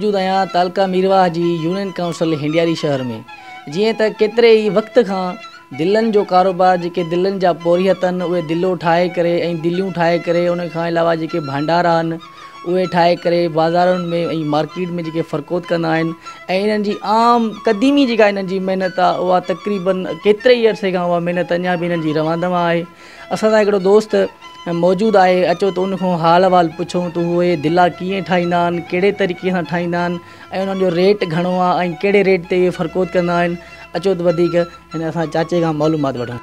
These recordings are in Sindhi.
موجود آهيان تعلقه ميرواهه جي يونين ڪائونسل هنڊياري شهر ۾ جيئن ته ڪيتري ئي وقت کان دلن جو ڪاروبار جيڪي دلن جا پورهيت آهن اهي دلو ٺاهي ڪري ۽ دليون ٺاهي ڪري ان کان علاوه جيڪي ڀانڊارا آهن اهي ٺاهي ڪري بازارن ۾ ۽ مارڪيٽ ۾ جيڪي فرڪوت ڪندا آهن ۽ انهن جي عام قديمي جيڪا انهن جي محنت آهي اها تقريبن ڪيتري ئي عرصي کان اها محنت اڃا به انهن جي روان دوان آهي اسان سان هڪڙو دوست موجود آهي اچو ته ان کان حال احوال پڇون ته اهي دلا ڪيئن ٺاهيندا آهن ڪهڙي طريقي سان ٺاهيندا آهن ۽ انهن جو ريٽ گهڻو آهي ۽ ڪهڙي ريٽ تي اهي فرڪوت ڪندا آهن اچو ته وڌيڪ هن اسان جي چاچي کان معلومات وٺون.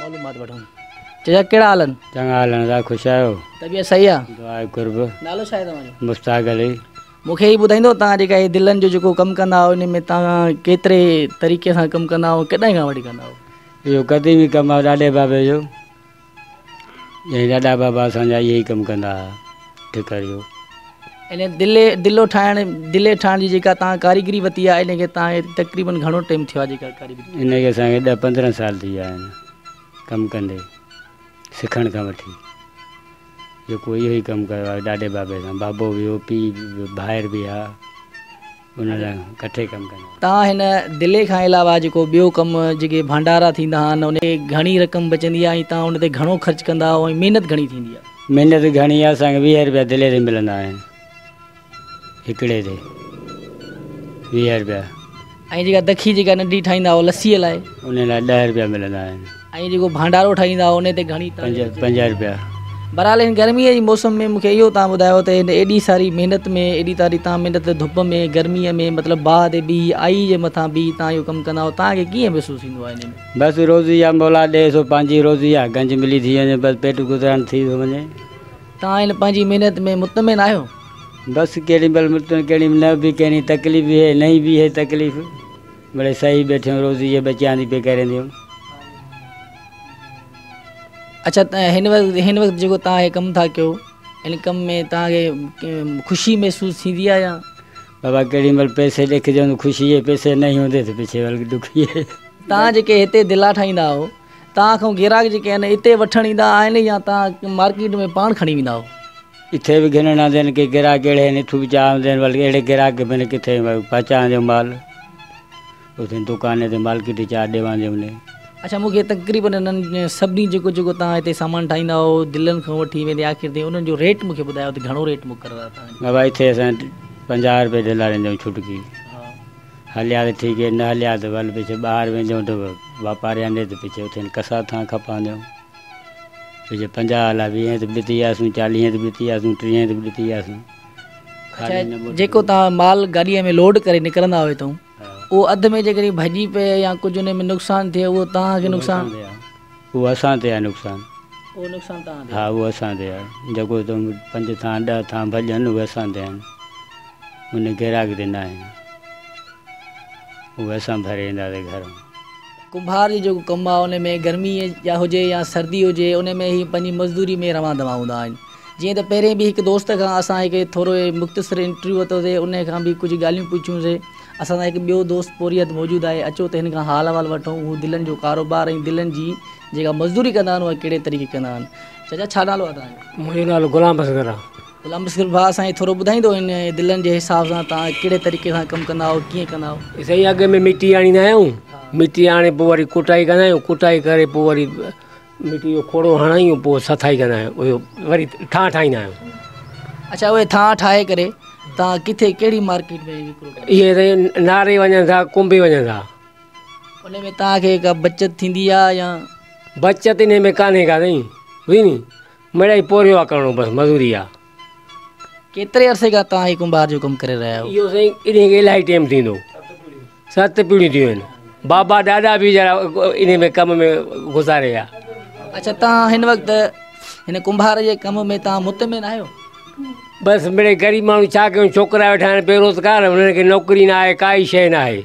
معلومات وٺون چچا ڪهڙا حال آهن چڱا حال آهن دا خوش آهيو طبيعت صحيح آهي دعا قرب نالو ڇا آهي توهان جو مشتاق علي مونکي هي ٻڌائيندو توهان جيڪا هي دلن جو جيڪو ڪم ڪندا آهيو ان ۾ توهان ڪيتري طريقي سان ڪم ڪندا آهيو ڪڏهن کان وٺي ڪندا آهيو اهو قديمي ڪم آهي ڏاڏي بابي جو جنهن ڏاڏا بابا اسان جا اهي ئي ڪم ڪندا ها ٺڪر جو. ان دلي دلو ٺاهڻ دلي ٺاهڻ جي جيڪا توهان ڪاريگري وتي آهي ان کي توهان کي تقريبن گهڻو ٽيم ٿيو آهي جيڪا ڪاريگري. ان کي اسان کي ڏهه پندرهن سال ٿي ويا آهن ڪم ڪندي سکڻ کان وٺي جيڪو اهو ئي ڪم ڪيو آهي ڏاڏي بابي سان بابو به هو پيء به ڀائر به ها. ان لاء ڪٺي ڪم ڪندا هئا. تان هن دلي کان علاوه جيڪو ٻيو ڪم جيڪي ڀانڊارا ٿيندا آهن انهن تي گهڻي رقم بچندي آهي ۽ تان ان تي گهڻو خرچ ڪندا آهو ۽ محنت گهڻي ٿيندي آهي. محنت گهڻي آهي اسان کي ويهه رپيا دلي تي ملندا آهن هڪڙي تي ويهه رپيا. ۽ جيڪا دکي جيڪا ننڍي ٺاهيندا آهو لسي لاء. ان لاء ڏهه رپيا ملندا آهن. ۽ جيڪو ڀانڊارو ٺاهيندا هئا انهي تي گهڻي تاڙي وجهي پنجاهه رپيا. بهرحال هن گرميء جي موسم ۾ مون کي اهو تان ٻڌايو ته هن ايڏي ساري محنت ۾ ايڏي تاري تان محنت تي ڌپ ۾ گرميء ۾ مطلب باهه تي بيهي آئي جي مٿان بيهي تان اهو ڪم ڪندا آهيو تان کي ڪيئن محسوس ٿيندو آهي انهي ۾. بس روزي يا مولا ڏي سو پنهنجي روزي آ گنج ملي ٿي وڃي بس پيٽ گذران ٿي ٿو وڃي. تان هن پنهنجي محنت ۾ مطمئن آهيو؟ بس ڪهڙي مهل مطمئن ڪهڙي مهل نه به ڪهڙي تڪليف به هي نهي به هي تڪليف. بڙي سهي بيٺيون روزي جي بچيان ٿي پي ڪرين ٿيون. اڇا هن وقت هن وقت جيڪو تان هي ڪم ٿا ڪيو ان ڪم ۾ تان کي خوشي محسوس ٿيندي آ يا بابا ڪهڙي مل پيسي ڏک جون خوشي جي پيسي نه هوندي ته پڇي ول ڏکي تان جيڪي هتي دلا ٺاهيندا آهو تان کان گراهڪ جيڪي آهن هتي وٺڻ ايندا آهن يا تان مارڪيٽ ۾ پاڻ کڻي ويندا آهو. ڪٿي به گهنڻ آندين ڪي گراڪ اهڙي آهن اٿو به چاهه آندين بلڪه اهڙي گراڪ کي بنهه ڪٿي پهچا آندين مال اٿي دڪان تي مالڪي تي چاهه ڏي واندي هوندي. اڇا مون کي تقريبن انهن سڀني جيڪو جيڪو توهان هتي سامان ٺاهيندا آهو دلن کان وٺي ويندي آخر تائين انهن جو ريٽ مون کي ٻڌايو ته گهڻو ريٽ مقرر آهي توهان جو. بابا اٿي اسان پنجاهه روپيه ڏيندا رهندا آهيون ڇٽڪي هليا ته ٺيڪ نه هليا ته ول پڇي ٻاهر ويندي آهيون ته واپاري آندي ته پڇي اٿي ڪسا ٿان کپاندا آهيون. ڪجهه پنجاهه الاء ويهين تي به ڏتي آسون، چاليهين تي به ڏتي آسون، ٽيهين تي به ڏتي آسون. اڇا جيڪو توهان مال گاڏيء ۾ لوڊ ڪري نڪرندا هئي تون، اهو اڌ ۾ جيڪڏهن ڀڄي پئي يا ڪجهه ان ۾ نقصان ٿئي اهو توهان کي نقصان؟ اهو اسان تي آهي نقصان. اهو نقصان توهان تي آهي. ها اهو اسان تي آهي. جيڪو پنج ٿانء ڏهه ٿانء ڀڄن اهي اسان تي آهن. ان گراڪ تي ناهن. اهي اسان ڀري اينداسين گهر مان. ڪنڀار جو جيڪو ڪم آهي ان ۾ گرمي جا هجي يا سردي هجي ان ۾ هي پنهنجي مزدوري ۾ روان دوا هوندا آهن جيئن ته پهرين به هڪ دوست کان اسان هڪ ٿورو مختصر انٽرويو ورتو سي ان کان به ڪجهه ڳالهيون پڇيون سي اسان سان هڪ ٻيو دوست پورهيت موجود آهي اچو ته هن کان حال احوال وٺون هو دلن جو ڪاروبار ۽ دلن جي جيڪا مزدوري ڪندا آهن اها ڪهڙي طريقي ڪندا آهن چچا ڇا نالو آهي تنهنجو منهنجو نالو غلام اصغر آهي غلام مشڪل ڀاء سائين ٿورو ٻڌائيندو ان دلن جي حساب سان تان ڪهڙي طريقي سان ڪم ڪندا آهو ڪيئن ڪندا آهو سائين اڳ ۾ مٽي آڻيندا آهيون مٽي آڻي پوء وري ڪٽائي ڪندا آهيون ڪٽائي ڪري پوء وري مٽي جو کوڙو هڻندا آهيون پوء سٿائي ڪندا آهيون اهو وري ٿانء ٺاهيندا آهيون اڇا اهي ٿانء ٺاهي ڪري تان ڪٿي ڪهڙي مارڪيٽ ۾ وڪرو ڪندا اهي سائين ناري وڃن ٿا ڪنبي وڃن ٿا ان ۾ تان کي ڪا بچت ٿيندي آهي يا بچت ان ۾ ڪانهي ڪا سائين مڙئي پورهيو آ ڪرڻو بس مزوري آ. ڪيتري عرصي کان توهان هي ڪنڀار جو ڪم ڪري رهيا آهيو؟ اهو سائين انهي کي الاهي ٽيم ٿيندو ست پيڙهيون ٿيون آهن بابا ڏاڏا به ويچارا انهي ۾ ڪم ۾ گذاري ويا. اڇا توهان هن وقت هن ڪنڀار جي ڪم ۾ توهان مطمئن آهيو؟ بس مڙئي غريب ماڻهو ڇا ڪيون ڇوڪرا ويٺا آهن بيروزگار انهن کي نوڪري ناهي ڪائي شئي ناهي.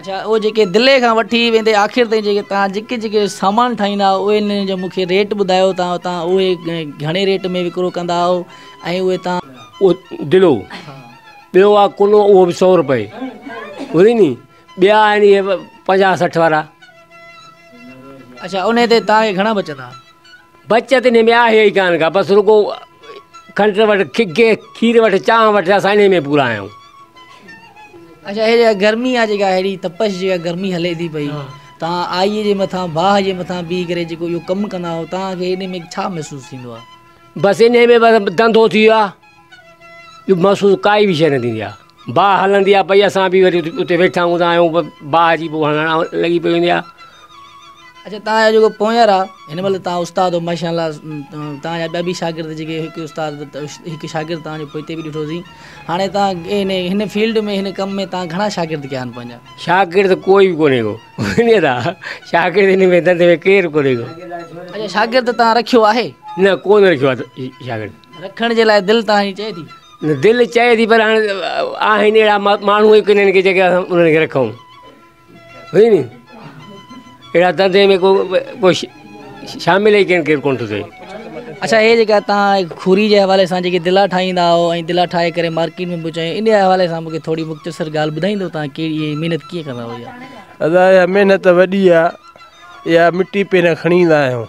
اڇا اهو جيڪي دلي کان وٺي ويندي آخر تائين جيڪي تان جيڪي جيڪي سامان ٺاهيندا آهيو اهي انهن جو مونکي ريٽ ٻڌايو تان تان اهي گهڻي ريٽ ۾ وڪرو ڪندا آهيو ۽ اهي تان او دلو ٻيو آ ڪلو اهو به سؤ روپئي وري ني ٻيا آهن اهي پنجاهه سٺ وارا اڇا انهي تي تان کي گهڻا بچندا بچت انهي ۾ آهي ئي ڪانه ڪا بس رڳو کنڊ وٽ کگي کير وٽ چانهه وٽ اسان انهي ۾ پورا آهيون. اچا هي جيڪا گرمي آ جيڪا هيڏي تپش جيڪا گرمي هلي ٿي پئي توهان آئي جي مٿان باهه جي مٿان بيهي ڪري جيڪو اهو ڪم ڪندا آهيو توهان کي انهي ۾ ڇا محسوس ٿيندو آ. بس انهي ۾ بس ڌنڌو ٿي ويو آ ٻيو محسوس ڪائي به شيء نه ٿيندي آ. باهه هلندي آهي پئي اسان به وري اتي ويٺا هوندا آهيون باهه جي پوء هلڻ لڳي پئي هوندي آهي اچا تان جا جيڪو پونئير آ هن مهل تان استاد او ماشاء الله تان جا ٻيا به شاگرد جيڪي هڪ استاد هڪ شاگرد تان جو پوئتي به ڏٺو سين هاڻي تان ان هن فيلڊ ۾ هن ڪم ۾ تان گهڻا شاگرد ڪيا آهن پنهنجا شاگرد ڪوئي به ڪونهي هو هن دا شاگرد ان ۾ دنڌ ۾ ڪير ڪونهي هو اچا شاگرد تان رکيو آهي نه ڪونهي رکيو آهي شاگرد رکڻ جي لاء دل تان هي چئي ٿي. دل چئي ٿي پر هاڻ آهن اهڙا ماڻهو ئي ڪونهن جيڪي اسان انهن کي رکون ٺيڪ ني اهڙا دنڌي ۾ ڪو ڪو شامل ئي ڪين ڪير ڪون ٿو ٿئي. اڇا هي جيڪا توهان کوري جي حوالي سان جيڪي دلا ٺاهيندا آهيو ۽ دلا ٺاهي ڪري مارڪيٽ ۾ به وچائي ان جي حوالي سان مونکي ٿوري مختصر ڳالهه ٻڌائيندو توهان ڪي هي محنت ڪيئن ڪندا آهيو يار. ادا اها محنت وڏي آهي اها مٽي پهريان کڻي ايندا آهيون.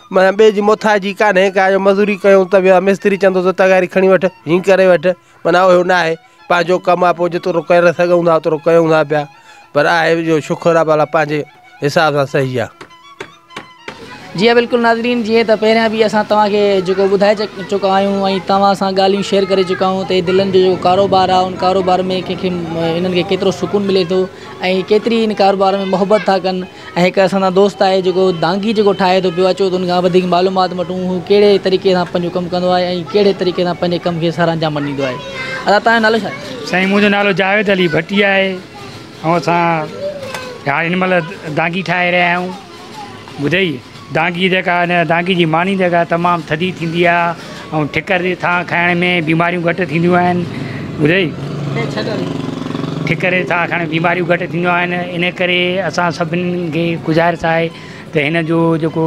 معنيٰ ٻئي جي موٿاجي ڪانهي ڪا جو مزوري ڪيون ته ويا مستري چوندو ته تغاري کڻي وٺ هين ڪري وٺ معنيٰ اهو نه آهي پنهنجو ڪم آهي پوء جيترو ڪري سگهون ٿا اوترو ڪيون ٿا پيا پر آهي جو شڪر آهي ڀلا پنهنجي حساب سان صحيح آهي. جي ها بلڪل ناظرين جيئن ته پهريان به اسان توهان کي جيڪو ٻڌائي چڪا آهيون ۽ توهان سان ڳالهيون شيئر ڪري چڪا آهيون ته دلن جو جيڪو ڪاروبار آهي ان ڪاروبار ۾ ڪنهن کي انهن کي ڪيترو سڪون ملي ٿو ۽ ڪيتري ان ڪاروبار ۾ محبت ٿا ڪن ۽ هڪ اسان سان دوست آهي جيڪو دانگي جيڪو ٺاهي ٿو پيو اچو ته ان کان وڌيڪ معلومات وٺون هو ڪهڙي طريقي سان پنهنجو ڪم ڪندو آهي ۽ ڪهڙي طريقي سان پنهنجي ڪم کي سر انجام ڏيندو آهي ادا تنهنجو نالو ڇا آهي سائين منهنجو نالو جاويد علي ڀٽي آهي ۽ اسان هاڻ هن مهل دانگي ٺاهي رهيا آهيون ٻڌئي دانگي جيڪا آهي نه دانگي جي ماني جيڪا آهي تمام ٿڌي ٿيندي آهي ۽ ٺڪر جي ٿانء کائڻ ۾ بيماريون گهٽ ٿينديون آهن ٻڌئي ٺڪر جي ٿانء کائڻ بيماريون گهٽ ٿينديون آهن ان ڪري اسان سڀني کي گذارش آهي ته هن جو جيڪو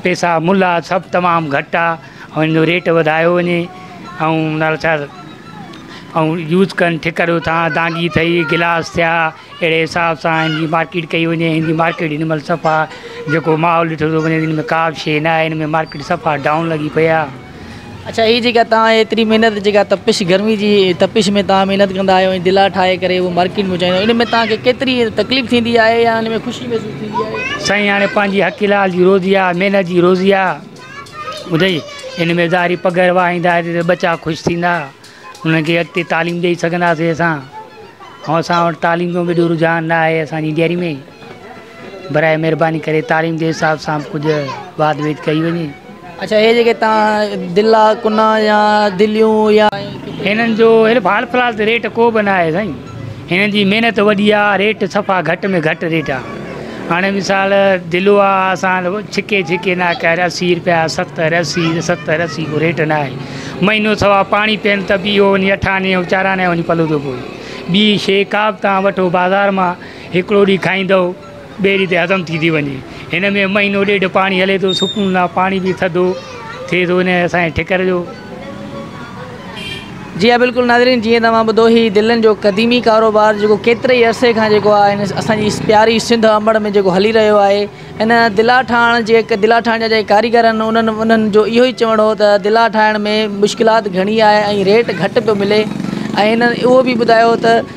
پيسا ملهه آهي سڀ تمام گهٽ آهي ۽ ان جو ريٽ وڌايو وڃي ۽ نالشار ۽ يوز ڪن ٺڪر جو ٿانء دانگي ٿئي گلاس ٿيا اهڙي حساب سان هن جي مارڪيٽ ڪئي وڃي هن جي مارڪيٽ هن مهل صفا جيڪو ماحول ڏٺو ٿو وڃي هن ۾ ڪا به شيء ناهي هن ۾ مارڪيٽ صفا ڊائون لڳي پئي آهي اڇا هي جيڪا توهان ايتري محنت جيڪا تپش گرمي جي تپش ۾ توهان محنت ڪندا آهيو ۽ دلا ٺاهي ڪري اهو مارڪيٽ ۾ پهچائيندا آهيو ان ۾ توهان کي ڪيتري تڪليف ٿيندي آهي يا ان ۾ خوشي محسوس ٿيندي آهي سائين هاڻي پنهنجي حق حلال جي روزي آهي محنت جي روزي آهي ٻڌئي ان ۾ ظاهري پگهر وهائيندا ته ٻچا خوش ٿيندا انهن کي اڳتي تعليم ڏئي سگهنداسين اسان ۽ اسان وٽ تعليم جو بي رجحان نه آهي اسانجي ڊيري ۾ برائي مهرباني ڪري تعليم جي حساب سان ڪجهه واڌ ويد ڪئي وڃي اچا هي جيڪي تان دلا ڪنا يا دليون يا هنن جو هيل حال فلحال ته ريٽ ڪو به نه آهي سائين هنن جي محنت وڏي آ ريٽ صفا گهٽ ۾ گهٽ ريٽ آ هاڻي مثال دلو آ اسان ڇڪي ڇڪي نه ڪهر اسي روپيا ستر اسي ستر اسي ڪو ريٽ نه آهي مهينو سوا پاڻي پين ته بي هو وڃي اٺاني او چاراني وڃي پلو ٿو پوي ٻي شي ڪا به تان وٺو بازار مان هڪڙو ڏي کائيندو ٻيڙي تي هضم ٿي ٿي وڃي هن ۾ مهينو ڏيڍ پاڻي هلي ٿو سڪون لا پاڻي به ٿڌو ٿئي ٿو هن اسان ٺڪر جو جي ها بلڪل ناظرين جي توهان ٻڌو هي دلن جو قديمي ڪاروبار جيڪو ڪيتري ئي عرصي کان جيڪو آهي اسان جي پياري سنڌ امڙ ۾ جيڪو هلي رهيو آهي ان دلا ٺاهڻ جي هڪ دلا ٺاهڻ جا جي ڪاريگر آهن انهن انهن جو اهو ئي چوڻ هو ته دلا ٺاهڻ ۾ مشڪلات گهڻي آهي ۽ ريٽ گهٽ پيو ملي ۽ ان اهو به ٻڌايو ته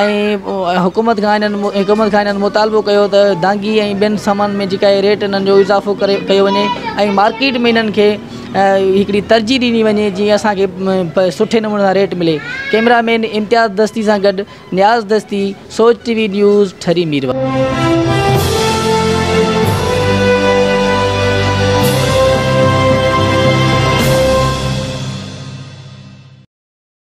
۽ حڪومت کان حڪومت کان انهن مطالبو ڪيو ته دانگي ۽ ٻين سامان ۾ جيڪا ريٽ انهن جو اضافو ڪري ڪيو وڃي ۽ مارڪيٽ ۾ انهن کي هڪڙي ترجيح ڏني وڃي جي اسانکي سٺي نموني سان ريٽ ملي ڪيمرا مين امتياز دستي سان گڏ Niaz Dasti Soch T V news Thari Mirwah.